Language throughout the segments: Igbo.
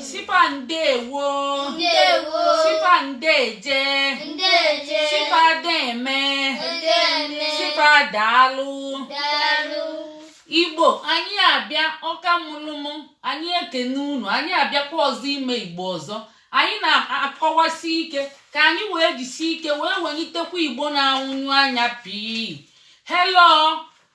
sipa ndewo sipa ndeje sipa deme sipa daalụ igbo anyị abịa ọka mụlụ mụ anyị ekene unu anyị abịakwa ọzọ ime igbo ọzọ anyị na-akọwasi ike ka anyị wee jisi ike wee welitekwa igbo na-anwụnyụ anya pii hello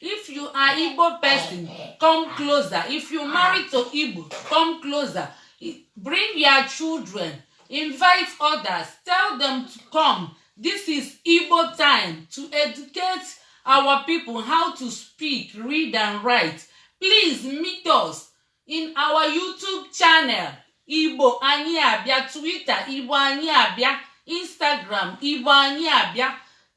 if you are igbo person come closer if you marry to igbo come closer bring your children invite others tell them to come this is igbo time to educate our people how to speak read and write please meet us in our youtube channel igbo anyị abịa twitter igbo anyị abịa instagram igbo anyị abịa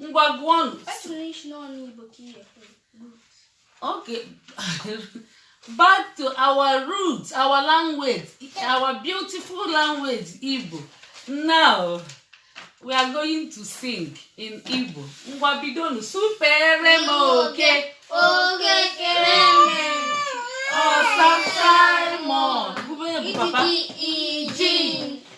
ngwa gụọnụ okay back to our roots our language our beautiful language igbo now we are going to sing in igbo ngwa bidonu supere m oke oge kere mme ọsa simon bube papa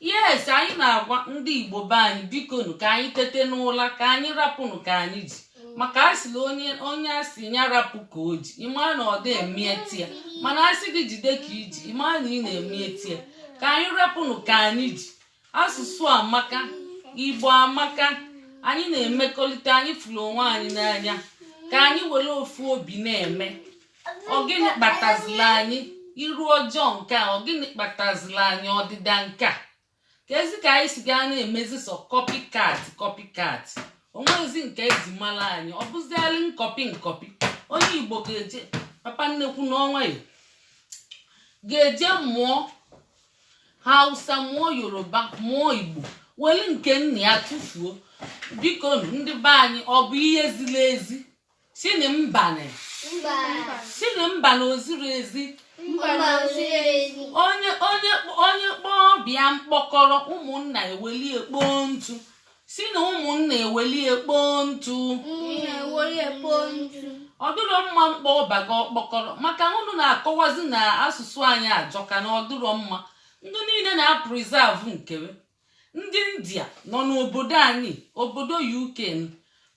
yes anyị na-agwa ndị igbo be anyị bikonu ka anyị tete n'ụla ka anyị rapụnụ ka anyị ji maka a sịlị onye a sị ya rapụ ka o ji ị ma na ọ dị emete ya mana a sị gị jide ka i ji ị ma na ị na-emete ya ka anyị rapụnụ ka anyị ji asụsụ amaka igbo amaka anyị na-emekọrịta anyị fụrụ onwe anyị n'anya ka anyị were ofu obi na-eme ọ gịnị kpatazila anyị iru ọjọọ nke a ọ gịnị kpatazila anyị ọdịda nke a keezi ka anyị si gaa na-emezi sọ copycat copycat o nwezi nke e ji mara anyị ọ bụzialị nkọpi nkọpi onye igbo ga-eje papa nnukwu n'onwe ya ga-eje mụọ hausa mụọ yoruba mụọ igbo weli nke nna ya tụfuo biko ndị be anyị ọ bụ ihe ziri ezi sịnị mbanị sịnị mbanị o ziro ezi onye kpọọ ọba ya mkpọkọrọ ụmụnna ewelie kpoo ntụ sị na ụmụnna ewelie kpoo ntụ ọ dịrọ mma ịkpọ ọba gị ọkpọkọrọ maka unu na-akọwazi na asụsụ anyị ajọka na ọ dịrọ mma ndị niile na-apreserve nkere ndị india nọ n'obodo anyị obodo uk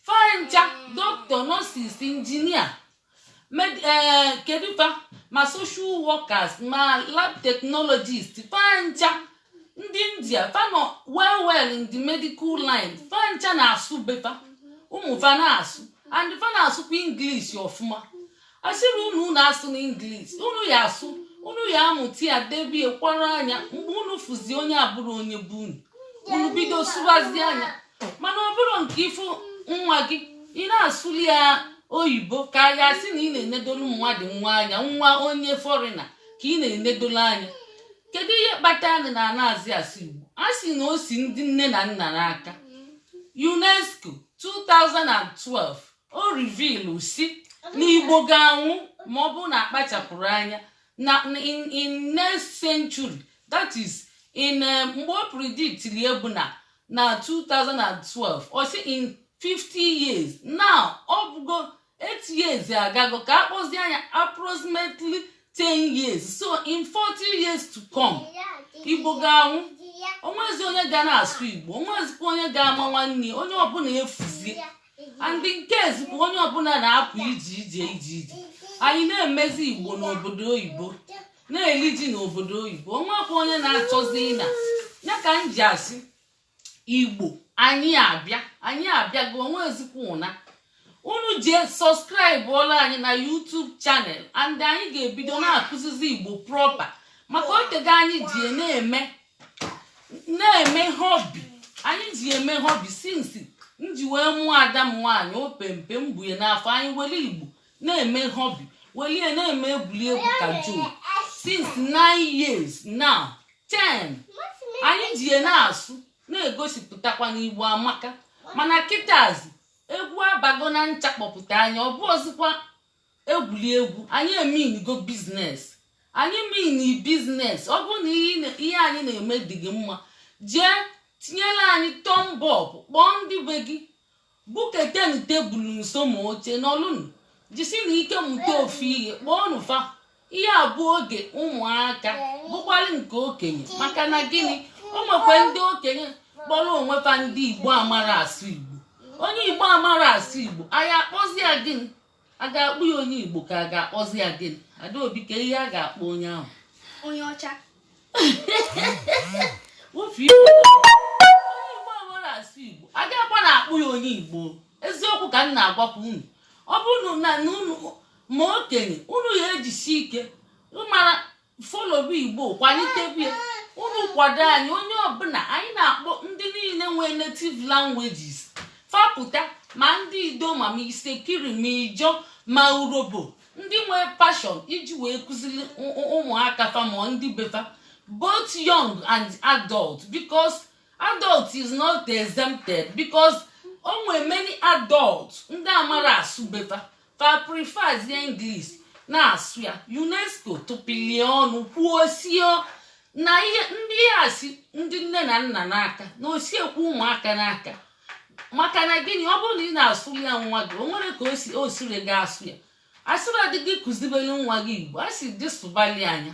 fa ncha doctor nurses engineer eh, kedụ fa ma social workers ma lab technologist fa ncha ndị india fa nọ well well in the medical line fa ncha na-asụ be fa ụmụ fa na-asụ and fa na-asụkwa english ọfụma a sịrọ unu unu asụna English unu ya asụ unu ya amụta ya debie kwara anya mgbe unu fụzi onye abụrọ onye be unu unu bido sụbazịa nya mana ọ bụrọ nke ị fụ nwa gị ị na-asụlị ya oyibo ka a ya-asị na ị na-enedolu mmadụ nwa anya nwa onye foreigner ka ị na-enedolu anya kedu ihe kpatara anyị na anazi asụ igbo a sị na o si ndị nne na nna n'aka unesco 2012 o revealu sị na igbo ga-anwụ ma ọ bụrụ na akpachapụrọ anya na in next century that is in eh, mgbe o predictili ya bụ na na 2012 ọ sị in 50 years now ọ bụgo 8 years agago ka a kpọzia nya approximately 10 years so in 40 years to come igbo ga-anwụ onwezi onye ga na-asụ igbo onwezikwa onye ga-ama nwanne onye ọbụla efuzie and nke eziokwu onye ọbụla na-apụ ije ije ije ije anyị na-emezi igbo n'obodo oyibo na-eli ji n'obodo oyibo onwekwa onye na-achọzi ịna ya ka m ji asị igbo anyị abịa anyị abịago onwezikwa ụna unu jee subscribe ọla anyị na YouTube channel and anyị ga-ebido na-akụzizi igbo proper maka o tego anyị ji na-eme na-eme hobby anyị ji eme hobby since m ji wee mụọ ada m nwaanyị opempe m bu nya n'afọ anyị were igbo na-eme hobby welie na-eme egwuregwu ka juu since nine years now ten anyị ji ya na-asụ na-egosipụtakwa na igbo amaka mana kịtazi egwu abago na ncha kpọpụta anya ọ bụrọzikwa egwuli egwu anyị emeanigo business anyị mean business ọ bụrụ na ihe anyị na-eme dị gị mma jee tinyela anyị thumb up kpọọ ndị be gị buketenụ tebụl nso ma oche nọlụnụ jisinụ ike mụta ofu ihe kpọọnụ fa ihe a bụ oge ụmụaka bụkwalị nke okenye maka na gịnị o nwekwa ndị okenye kpọrọ onwe fa ndị igbo amarọ asụ igbo onye igbo amarọ asụ igbo anyị akpọzi ya gịnị a ga-akpọ ya onye igbo ka a ga-akpọzi ya gịnị adaobi kee ihe a ga-akpọ onye ahụ onye ọcha ofe igbo onye igbo amarọ asụ igbo a ga-akpọ na-akpọ ya onye igbo eziokwu ka m na-agwakwu unu ọ bụrụ na unu ma okenye unu ya ejisi ike mara followbe igbo kwalitebe unu kwado anyị onye ọbụla anyị na-akpọ ndị niile nwee native languages fa pụta ma ndị idoma ma itsekiri ma ijaw ma urhobo ndị nwee passion iji wee kụziri ụmụaka fa ma ndị be fa both young and adult because adult is not exempted because o nwere many adult ndị amarọ asụ be fa fa preferzie English na-asụ ya UNESCO tụpụlị ọnụ kwuo sị na ihe ndị a si ndị nne na nna n'aka na o sikwu ụmụaka n'aka maka na gịnị ọ bụrụ na ị na-asụ ya nwa gị o nwerọ ka o siri gị asụ ya asịrọdị gị kụzibere nwa gị igbo a sị gị sụbalịa nya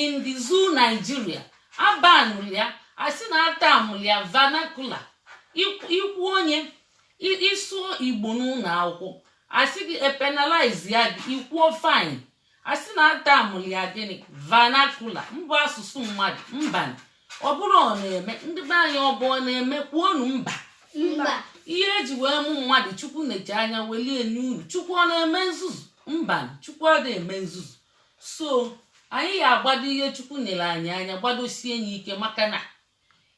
in the zoo Nigeria abanụrụ ya asị na atamụrụ ya vernacular ikwu onye ịsụọ igbo n'ụlọ akwụkwọ asị gị epenalize ya gị ị kwụọ fine asị na atamụrụ ya gịnị vernacular mbụ asụsụ mmadụ mba ọ bụrụ ọ na-eme ndị be anyị ọ bụ ọ na-eme kwuonu mba mba ihe eji wee mụ mmadụ chukwu nechaa anya welie n'uru chukwu ọ na-eme nzuzu mba chukwu ọ na-eme nzuzu so anyị ya agbado ihe chukwu nyere anyị anya gbadosie ya ike maka na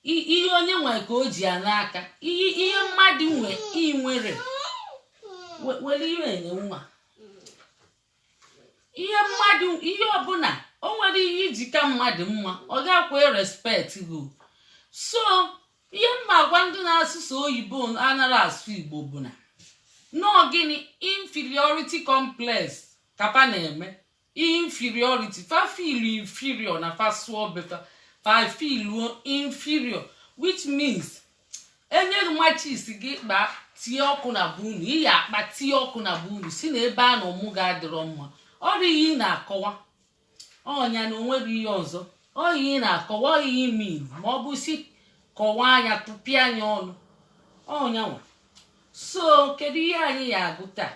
ihe onye nwe ka o ji ya n'aka ihe mmadụ nwe inwere were iwe enye nwa ihe mmadụ ihe ọbụla o nwere ihe iji ka mmadụ mma ọ ga-akwa respect gị so ihe m ma-agwa ndị na-asụ sọ oyibo anaghị asụ igbo bụ na na ọ gịnị inferiority complex ka fa na-eme inferiority fa feel inferior na fa sụọ be fa fa feel inferior which means enye matches sị gị kpa tie ọkụ na be unu ị ya akpa tie ọkụ na be unu si na ebe a nọ mụọ gị adịrọ mma ọ dị ihe ị na-akọwa ọ nya na onweghị ihe ọzọ ọ ihe ị na-akọwa ọ ihe i melu ma ọ bụ si kọwaa nya tụpịa nya ọnụ ọ nya nwa so kedu ihe anyị ya agụ taa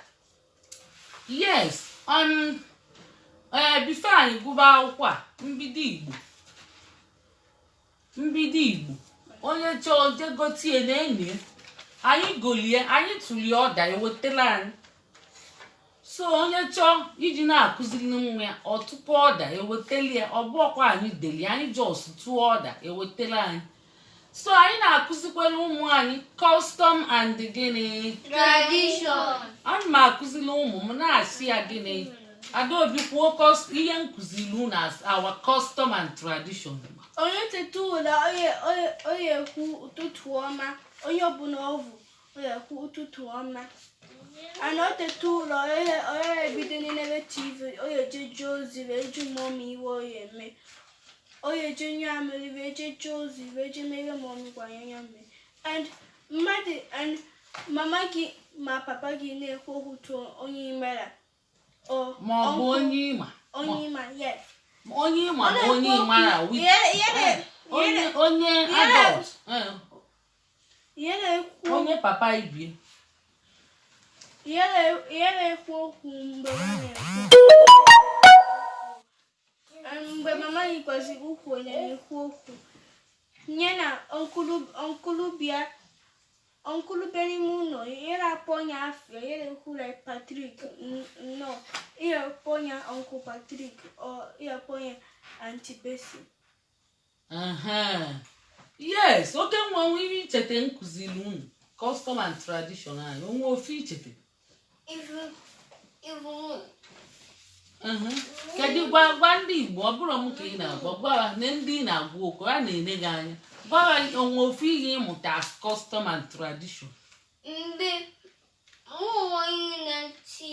yes um, eh, before anyị gụba akwụkwọ a mbido igbo mbido igbo onye chọọ jegotie na anyị anyị golie anyị tụlie order ewetela anyị so onye chọọ iji na-akụziri nwa ya ọ tụpụ order ewetela ya ọ bụrọkwa anyị deli anyị just tụọ order ewetela anyị so anyị na-akụzikwere ụmụ anyị custom and gịnị tradition ana m akụziri ụmụ m na-asị ya gịnị adaobi kwuo kọs- ihe m kụziri unu as our custom and tradition onye teta ụla onye onye onye ekwu ụtụtụ ọma onye ọbụla ọ vụ ọ ya ekwu ụtụtụ ọma ana o teta ụla ọ ya ebido nebe tv ọ ya eje jee ozi wee jụọ mummy ihe ọ ya eme ọ ya eje nyụọ amịrị wee je jee ozi wee je mere mummy gwa nya mee and mmadụ and mama gị ma papa gị na-ekwu okwu tụọ onye imela ma ọ bụ onye ịma onye ịma yes onye ịma ma onye ịmara onye adult onye papa ibie ihe na-ekwu okwu mgbe mgbe mama anyị kwesịrị ukwu onye na-ekwu okwu nye na ọnkulubia ọnkulube n'ime ụlọ yere akpọ onye afịa yere kwula patrik nnọọ ihe akpọ onye ọnkụ patrik ọ ihe akpọ onye antibesi yes okenwa nwe ihe icheta m kụziri unu custom and tradition anyị o nwe ofu icheta kedu gwa gwa ndị igbo ọ bụrọ m ka ị na-agwa gwara na ndị ị na-agwa okwu a na-ene gị anya gwa ha o nwe ofu ihe ị mụta as custom and tradition ndị ụmụ onye na-achị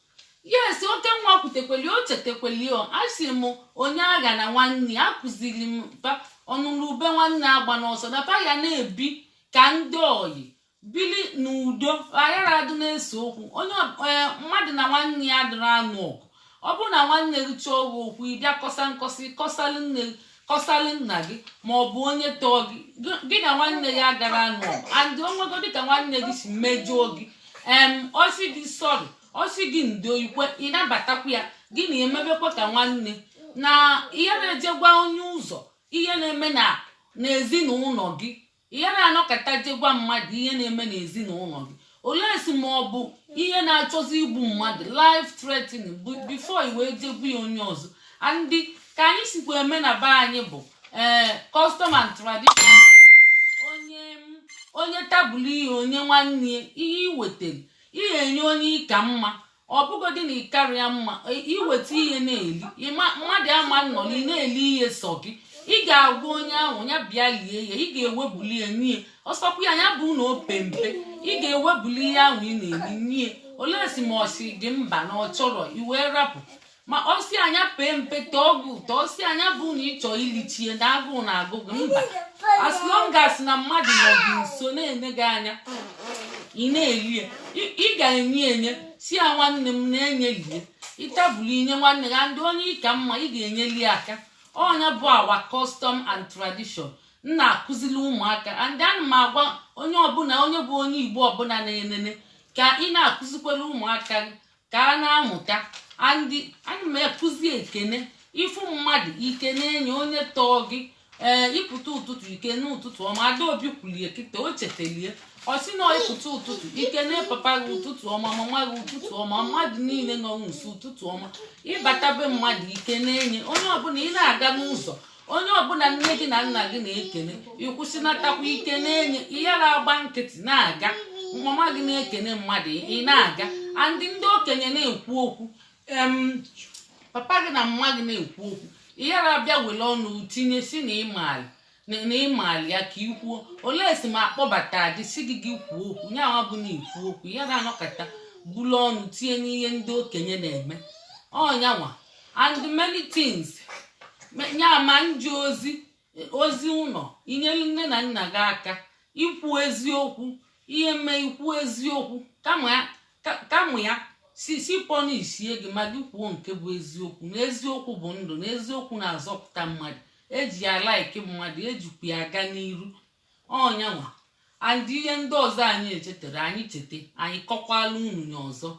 yes okenwa kwutekweli o chetekweli o asị m onye aghana nwanne ya akụziri m ba ọnụrụ ube nwanne agbana ọsọ na fa ya na-ebi ka ndị oyi bili n'udo a yara adị na-ese okwu onye ọ- ee, mmadụ na nwanne ya adịrọ anụ ọgụ ọ bụrụ na nwanne gị chọọ gị okwu ị bịa kọsa nkọsị kọsalụ nne gị kọsalụ nna gị ma ọ bụ onye tọọ gị gị na nwanne ya gara anụ and o nwegodi ka nwanne gị si mejọọ gị em ọ sị gị sorry ọ sị gị ndo i kwe ị nabatakwa ya gị na emebekwa ka nwanne na ị yara eje gwa onye ọzọ ihe na-eme n'ezinụnọ gị ihe na-anọkata je gwa mmadụ ihe na-eme n'ezinụnọ gị unless ma ọ bụ ihe na-achọzi igbu mmadụ life threatening before i wee je gwa onye ọzọ and ka anyị sikwa eme na be anyị bụ ee eh, custom and tradition onye onye tabụlụ ihe o nye nwanne ya i wetara ihe i nye onye ị ka mma ọ bụgodị na ị karọ ya mma i weta ihe na-eli mmadụ ama nọlị ị na-eli ihe sọ gị ị ga-agwa onye ahụ nya bịa lie ya ị ga-ewebuli ya nye ọ sọkwa ya nya bụ na o pe mpe ị ga-ewebuli ihe ahụ ị na-eli nye unless ma ọ sị gị mba na ọ chọrọ i wee rapụ ma ọ si anya pee mpe tọọ gị ụtọ ọ si anya bụ na ị chọ ilichie na agụụ na agụ gị mba as long as na mmadụ nọ gị nso na-ene gị anya ị na-eli ya Ị- ị ga-enye enye sị ya nwanne m na-enye lie ị tabụlụ i nye nwanne gị and onye ị ka mma ị ga-enyeli ya aka ọ nya bụ our custom and tradition m na-akụzili ụmụaka and ana m agwa onye ọbụla onye bụ onye igbo ọbụla na-enene ka ị na-akụzikwere ụmụaka gị ka a na-amụta and ana m ekụzi ekene ị fụ mmadụ i kene nya onye tọọ gị ee ị pụta ụtụtụ i kene ụtụtụ ọma adaobi kwulie kịta o chetelie ọ sị na ị pụta ụtụtụ i kene papa gị ụtụtụ ọma mama gị ụtụtụ ọma mmadụ niile nọ nso ụtụtụ ọma ị bata be mmadụ i kene nya onye ọbụla ị na-aga n'ụzọ onye ọbụna nne gị na nna gị na-ekene ịkwụsịnatakwa ike na-enye ị yara agba nkịtị na-aga mama gị na-ekene mmadụ ị na-aga andị ndị okenye na-ekwu okwu papa gị na mama gị na-ekwu okwu ị yara abịa were ọnụ tinye si na ịmaali na ịmaali ya ka ikwuo belụ sọ ma akpọbata gị si gị gị kwuo okwu nyanwa bụ na ikwu okwu ị yara anọkata bulu ọnụ tinye n'ihe ndị okenye na-eme ọnyanwa and many things nyanwa ije ozi ozi ụnọ inyere nne na nna gị aka ikwu eziokwu ihe mee ikwu eziokwu kama ya si punishie gị ma gị kwuo nke bụ eziokwu na eziokwu bụ ndụ na eziokwu na-azọpụta mmadụ eji ya like mmadụ ejikwa ya aga n'iru ọnyanwa and ihe ndị ọzọ anyị echetarọ anyị cheta anyị kọkwala unu ya ọzọ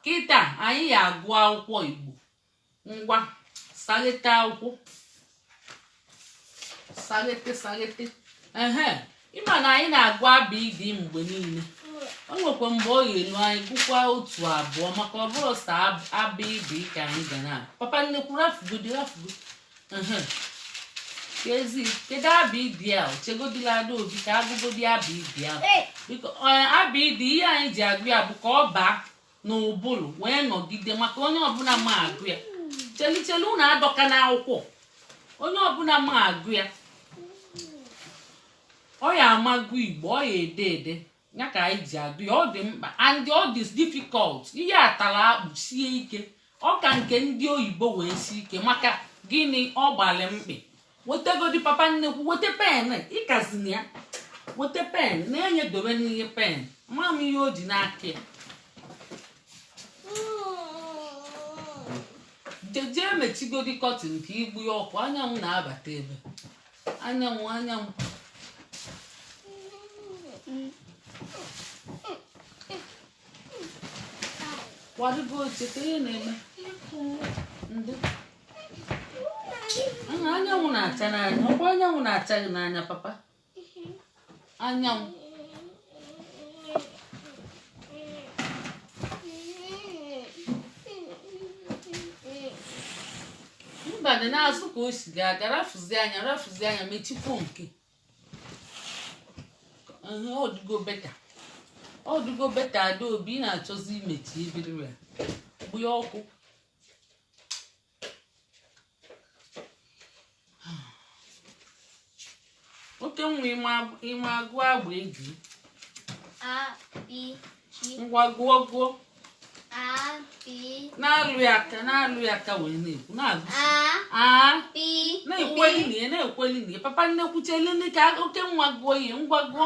kịta anyị ya agụ akwụkwọ igbo ngwa saghete akwụkwọ saghete saghete ehe ịma na anyị na-agụ abịdị mgbe niile o nwekwa mgbe ọ ya-elu anyị gụkwa otu abụọ maka ọ bụrụ sọ abịdị ka anyị ga na papa nnekwu rafụgodi rafụgodi ezi kedu abịdị a chegodila adaobi ka agụgodi abịdị a biko abịdị ihe anyị ji agụ ya bụ ka ọ baa n'ụbụrụ wee nọgide maka onye ọbụna ma agụ ya cheli cheli unu adọkana akwụkwọ onye ọbụna ma agụ ya ọ ya ama agụ igbo ọ ya ede ede ya ka anyị ji agụ ya ọ dị mkpa and ọ dị difficult ihe a tara akpụ sie ike ọ ka nke ndị oyibo wee sie ike maka gịnị ọ gbalị mkpị wetegodi papa nnekwu weta pen ịkazina ya weta pen na-enye dobe n'ihe pen ma m ihe o ji n'aka ya jezie mechigodi curtain ka igbu ya ọkụ anyanwụ na-abata ebe anyanwụ anyanwụ kwadebe oche ka ihe na-eme ndị anyanwụ na-acha n'anya ọkwa anyanwụ na-acha gị n'anya papa anyanwụ mba dị n'azụ ka o si ga-aga rafụzi anya rafụzi anya mechikwa nke Ehe, ọ dịgo better ọ dịgo better adaobi ị na-achọzi imechi ebiri ya gbụya ọkụ oke nwa ịma agụ abegi ngwa gụọ gụọ na-alụ ya aka na-alụ ya aka wee na-ekwu na-agụ na-ekweli na ya na-ekweli na ya papa nnekwu chelinu ka oke nwa gụọ ihe ngwa gụọ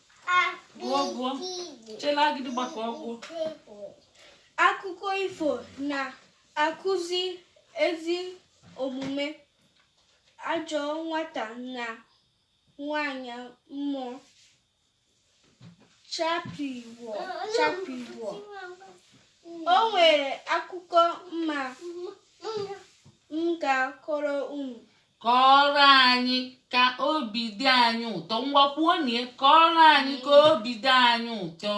akụkọ ifo na-akụzi ezi omume ajọ nwata na nwanyị mmụọ chakpii woo chakpii woo o nwere akụkọ mma m ga-akọrọ unu kọọrọ anyị ka obi dị anyị ụtọ ngwa kwuonụ ya kọọrọ anyị ka obi dị anyị ụtọ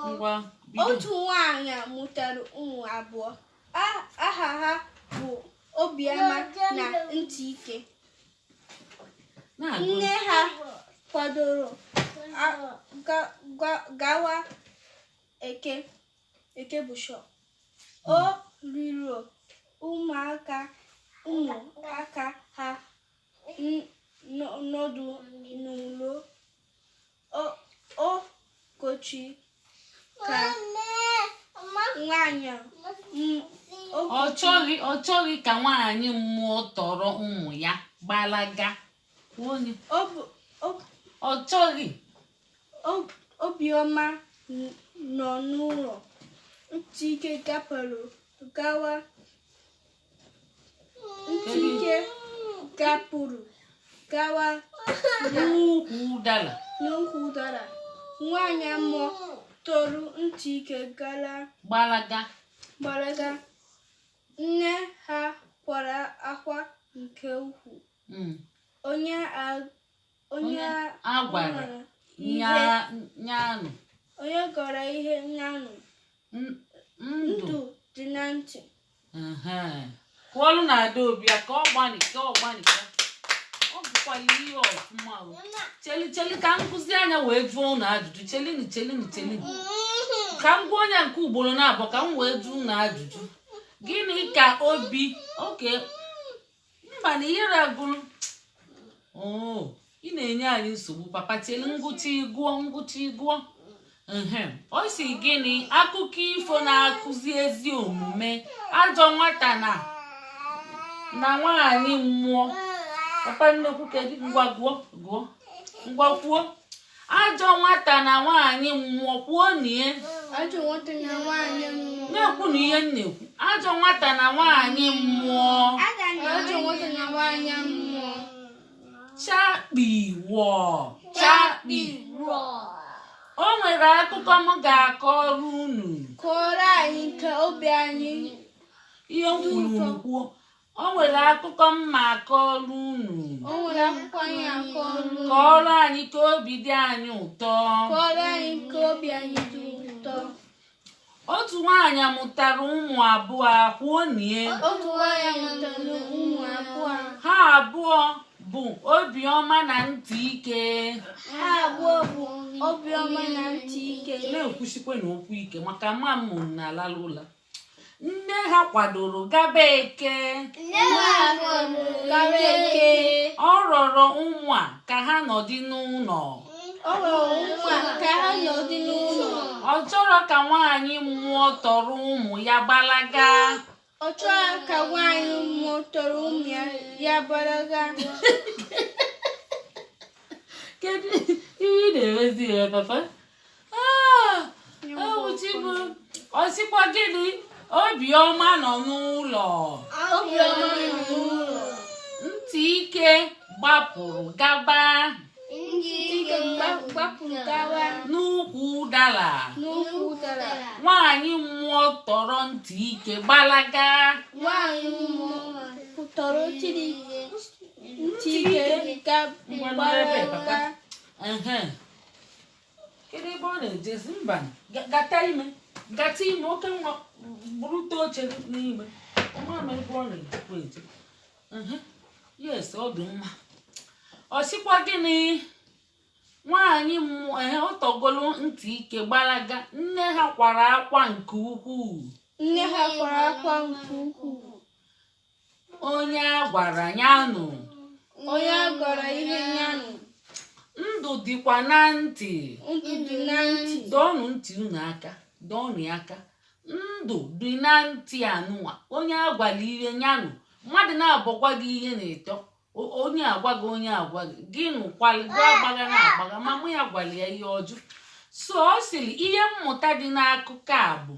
ngwa otu nwaanyị a mụtara ụmụ abụọ aha ha bụ obiọma na ntịike nne ha kwadoro gawa eke Eke Busho. Ọ rịọrọ ụmụaka ụmụaka ha n- n- nọdụ n'ụlọ. O o kochi ka nwanyị m- o ọ kochi- chọghị ọ chọghị ka nwaanyị mmụọ tọrọ ụmụ ya gbalaga Onye- o bụ- o ọ chọghị Obiọma nọ n'ụlọ. Ntịike gapụrụ gawa. Ntịike gapụrụ gawa n'ukwu ụdara. N'ukwu ụdara. Nwaanyị mmụọ tọrọ Ntịike gara. Gbalaga. Gbalaga. Nne ha kwara akwa nke ukwuu. Hmm. Onye onye a gwara nya nụ onye a gwara ihe nya nụ ndụ dị na ntị kụọlụnụ adaobi aka ọ gbanịka ọ gbanịka ọ gụkwala ihe ọfụma cheli cheli ka m kụzie nya wee jụọ ụnụ ajụjụ chelinu chelinu chelinu ka m gụọ nya nke ugbolo naabọ ka m wee jụọ ụnụ ajụjụ gịnị ka obi oke mba na ihere agụrụ oh, ị na-enye anyị nsogbu papa chelu m gụchaa ị gụọ m gụchaa ị gụọ ọ si gịnị akụkọ ifo na-akụzi ezi omume ajọ nwata na na nwaanyị mmụọ papa nnekwu kedu ngwa gụọ gụọ ngwa kwuo ajọ nwata na nwaanyị mmụọ kwuo nie na-ekwunụ ihe m na-ekwu ajọ nwata na nwaanyị mmụọ chakpii wọọ chakpi o nwere akụkọ m ga-akọrọ unu kọọrọ anyị ka obi anyị ihe m kwuru unu kwuo O nwere akụkọ m ma-akọọlụ unu. O nwere akụkọ anyị akọọlụ unu. Kọọrọ anyị ka obi dị anyị ụtọ. Kọọrọ anyị ka obi anyị dị ụtọ. Otu nwaanyị mụtara ụmụ abụọ kwuo nie. Otu nwaanyị mụtara ụmụ abụọ. Ha abụọ bụ obiọma na ntị ike. Ha abụọ bụ obiọma na ntị ike. Na-ekwusikwanụ okwu ike maka mma m na-alalụ ụla. nne ha kwadoro gaba eke ọ rọrọ ụmụ a ka ha nọdị n'ụlọ ọ chọrọ ka nwaanyị mmụọ tọrọ ụmụ ya gbalaga ọ chọrọ ka nwaanyị mmụọ tọrọ ụmụ ya ya gbalaga kedu ihe ị na-emezi ya papa Ah, ọ sịkwa gịnị obiọma nọ n'ụlọ ntị ike gbapụrụ gaba n'ukwu ụdara nwaanyị mmụọ tọrọ ntị ike gbalaga Ehe. kedu ebe ọ na-ejezi mba gata ime gata ime oke nwa burute oche n'ime ọmama ebe ọ na-ejekwa eje yes ọ dị mma ọ sịkwa gịnị nwaanyị mmụọ ehe ọ tọgolo ntị ike gbalaga nne ha kwara akwa nke ukwuu nne ha kwara akwa nke ukwuu onye a gwara ya nụ onye a gwara ihe ya nụ ndụ dịkwa na ntị ndụ dị na ntị dọọnụ ntị unu aka dọọnụ ya aka ndụ dị na ntị anụnwa onye a gwara ihe ya nụ mmadụ naabọ gwa gị ihe na ịtọ O- onye a gwa gị onye a gwa gị gị nụkwalị gị agbaghana agbagha mama ya gwara ya ihe ọ jụ so ọ sịrị ihe mmụta dị n'akụkọ a bụ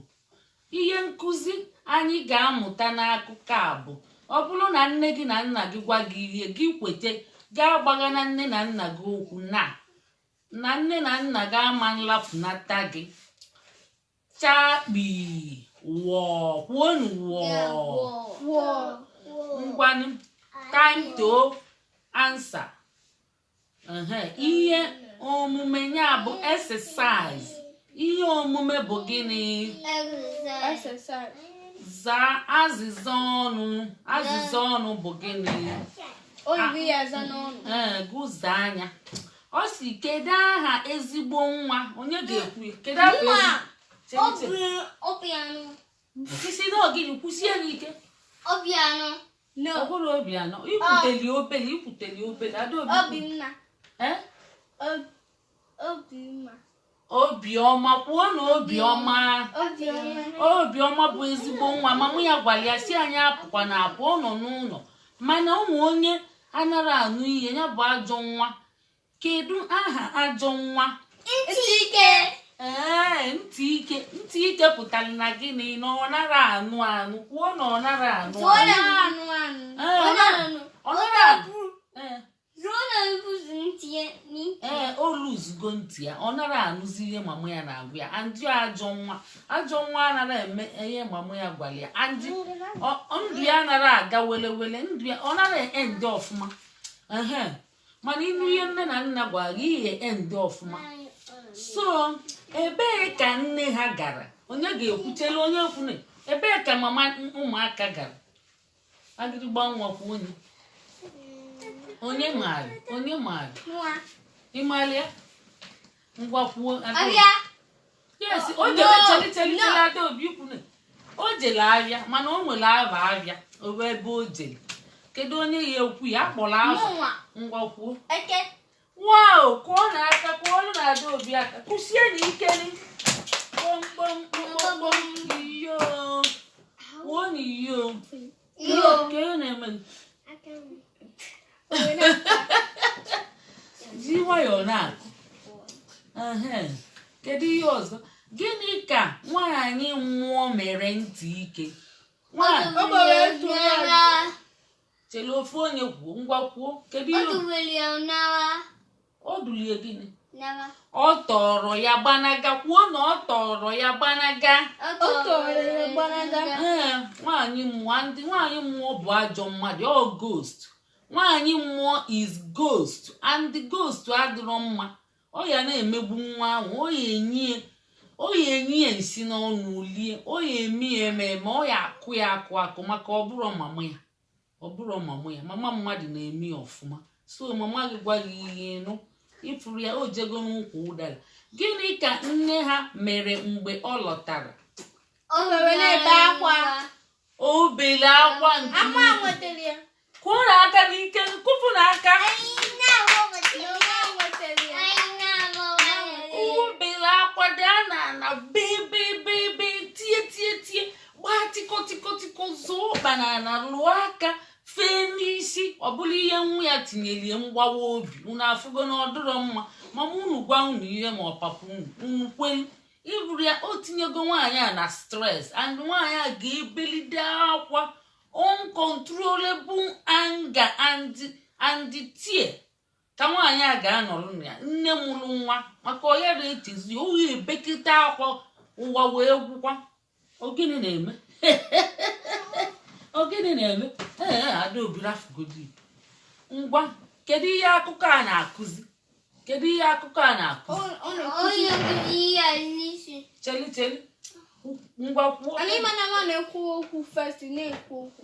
ihe nkụzi anyị ga-amụta n'akụkọ a bụ ọ bụrụ na nne gị na nna gị gwa gị ihe gị kwete gị agbaghana nne na nna gị okwu na na nne na nna gị ama nlafunata gị chakpii wọọ kwuonụ wọọ ngwanụ time to answer ihe omume ya bụ exercise ihe omume bụ gịnị zaa azịza ọnụ azịza ọnụ bụ gịnị ee gụzaa ya ọ sị kedu aha ezigbo nwa onye ga-ekwu ya kedu aha ezigbo ị sị na ọ gịnị kwusie n'ike obianụ No. Ọ bụrọ Obianọ. I kwuteli obele, i kwuteli obele. Adaobi. Obi mma. Eh? Obi mma. Obiọma kwuo na obiọma obiọma bụ ezigbo nwa mama ya gwara ya sị anyị apụkwana apụ ọ nọ n'ụlọ mana o nwee onye anara anụ ihe ya bụ ajọ nwa kedu aha ajọ nwa ntị ike ee ntị ike ntị ike pụtara na gịnị na ọ nara anụ anụ kwuo na ọ nara anụ ọ anụ nara anụ anụ Ee, ọ nara anụ ọ nara abụ ee ruo na nzuzu ntị ya n'ike ee o luzugo ntị ya ọ nara anụzi ihe mama ya na-agwa ya and ajọ nwa ajọ nwa anara eme ihe mama ya gwara ya and ọ- ọ- ndụ ya anara aga wele wele ndụ ya ọ nara end ọfụma ehe mana ị nụ ihe nne na nna gwara gị ị ya end ọfụma so ebee ka nne ha gara onye ga-ekwu chele onye kwune ebee ka mama ụmụaka gara agịrịgba ngwa kwuo onye onye maara onye maara ị malị ya ngwa kwuo yes o No, jere cheli cheli no. cheli Adaobi kwuru o jere ahịa mana o nwere aha ahịa o nwee ebe o jere kedu onye ya ekwu ya a kpọrọ aha Mụnwa. ngwa kwuo Eke. wow kụọnụ aka kụọnụ Adaobi aka kụsie na ikeli kpọmkpọm kpọmkpọm iyo kwuo na iyo ji nwayọọ na-akụ kedu ihe ọzọ gịnị ka nwaanyị mmụọ mere ntị ike chele ofu onye kwuo ngwa kwuo kedu ihe o dulie gịnị ọ tọrọ ya gbanaga kwuo na ọ tọrọ ya gbanaga nwaanyị mmụọ ndị nwaanyị mmụọ bụ ajọ mmadụ ọ ghost nwaanyị mmụọ is ghost and the ghost adịrọ mma ọ ya na-emegbu nwa ahụ ọ ya enye ọ ya enye ya nsị n'ọnụ lie ọ ya eme ya eme ọ ya akụ ya akụ akụ maka ọ bụrọ mama ya ọ bụrụ mama ya mama mmadụ na-eme ya ọfụma so mama gị gwa gị ihe nụ ị fụrụ ya o jego n'ukwu ụdara gịnị ka nne ha mere mgbe ọ lọtara O were na-ebe akwa. o bele akwa nke Akwa ukwuu. nwetara ya. kụọ na aka n'ike kụpụ na aka o bele akwa daa n'ana bee bee bee bee tie tie tie gbaa tikọtikọtikọ zọọ ọkpa n'ana lụọ aka fee n'isi ọbụla ihe nwa ya tinyelie mgbawa obi unu afụgo na ọ dịrọ mma mama unu gwa unu ihe ma ọ papa unu unu kwelu ị fụrụ ya o tinyego nwaanyị a na stress and nwaanyị a ga-ebelide akwa uncontrollable anger and and tear ka nwaanyị a ga-anọrọ na ya nne mụrụ nwa maka ọ ya na-etizi ọ ya ebekịta akwa ụwa wee gwụkwa ọ gịnị na-eme ọ gịnị na-eme ee adaobi rafụgodi ngwa kedu ihe akụkọ a na-akụzi kedu ihe akụkọ a na-akụzi Onye nkụzi ihe a n'isi. chelu chelu ngwa kwuo Anyị mana nwa na-ekwu okwu first na-ekwu okwu.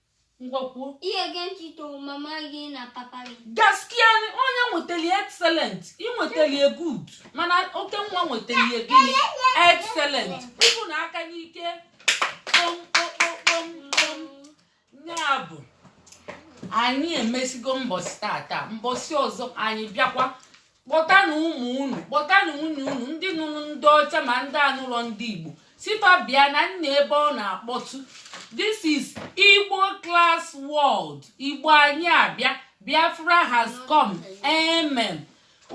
ngwa kwuo ihe gee ntị toro mama gị na papa gị gaskiya ne onye nwetali excellent ị nwetali ya good mana Okenwa nwetali ya gịnị excellent ịbụ na aka n'ike kpọmkpọmkpọmkpọm ya bụ anyị emesigo mbọsị taata mbọsị ọzọ anyị bịakwa kpọtanụ ụmụ unu kpọtanụ nwunye unu ndị nụrụ ndị ọcha ma ndị anụrọ ndị igbo sị fa bịa na nna ebe ọ na-akpọtụ this is igbo class world igbo anyị abịa biafra has come amen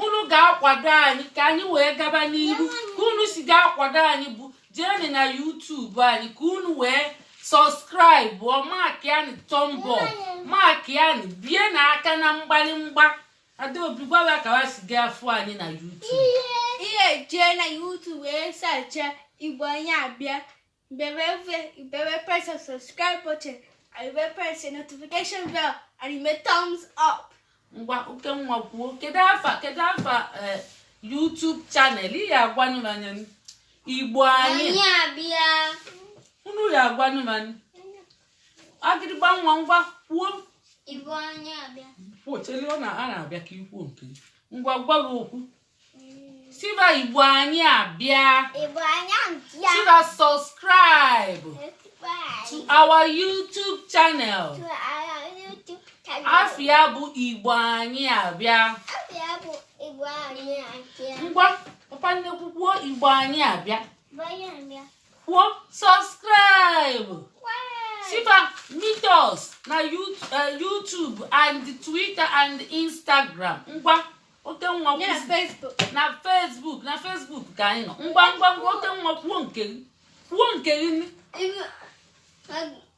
unu ga-akwado anyị ka anyị wee gaba n'ihu ka unu si ga-akwado anyị bụ jeenụ na YouTube anyị ka unu wee subscribe makian thumb up makian bie na aka na mgbalimgba Adaobi gwa wa ka wa si ga-afụ anyị na YouTube. Ị ya-eje na YouTube wee search Igbo anyị abịa mbewe mbewe press the subscribe button and mbewe press the notification bell and i mee thumbs up. Ngwa Okenwa kwuo kedu afa kedu afa eh, YouTube channel ị ya agwanụ m anya Igbo anyị. Anyị abịa. Unu ya agwanụ m anya. agịrịgba nwa ngwa kwuo Igbo anyị abịa. chelu ọ na a na-abịa ka i kwuo nke gị. ngwa gwa gị okwu sị ba igbo anyị abịa Igbo anyị abịa. sị ba subscribe to our youtube channel afa ya bụ igbo anyị abịa Afa ya bụ Igbo anyị abịa. ngwa papa nnekwu kwuo igbo anyị abịa Igbo anyị abịa. kwuo subscribe sifa meet us na eh, YouTube and Twitter and Instagram ngwa oke nwa na Facebook na Facebook ka anyị nọ ngwa ngwa ngwa oke nwa kwuo nke gị kwuo nke gị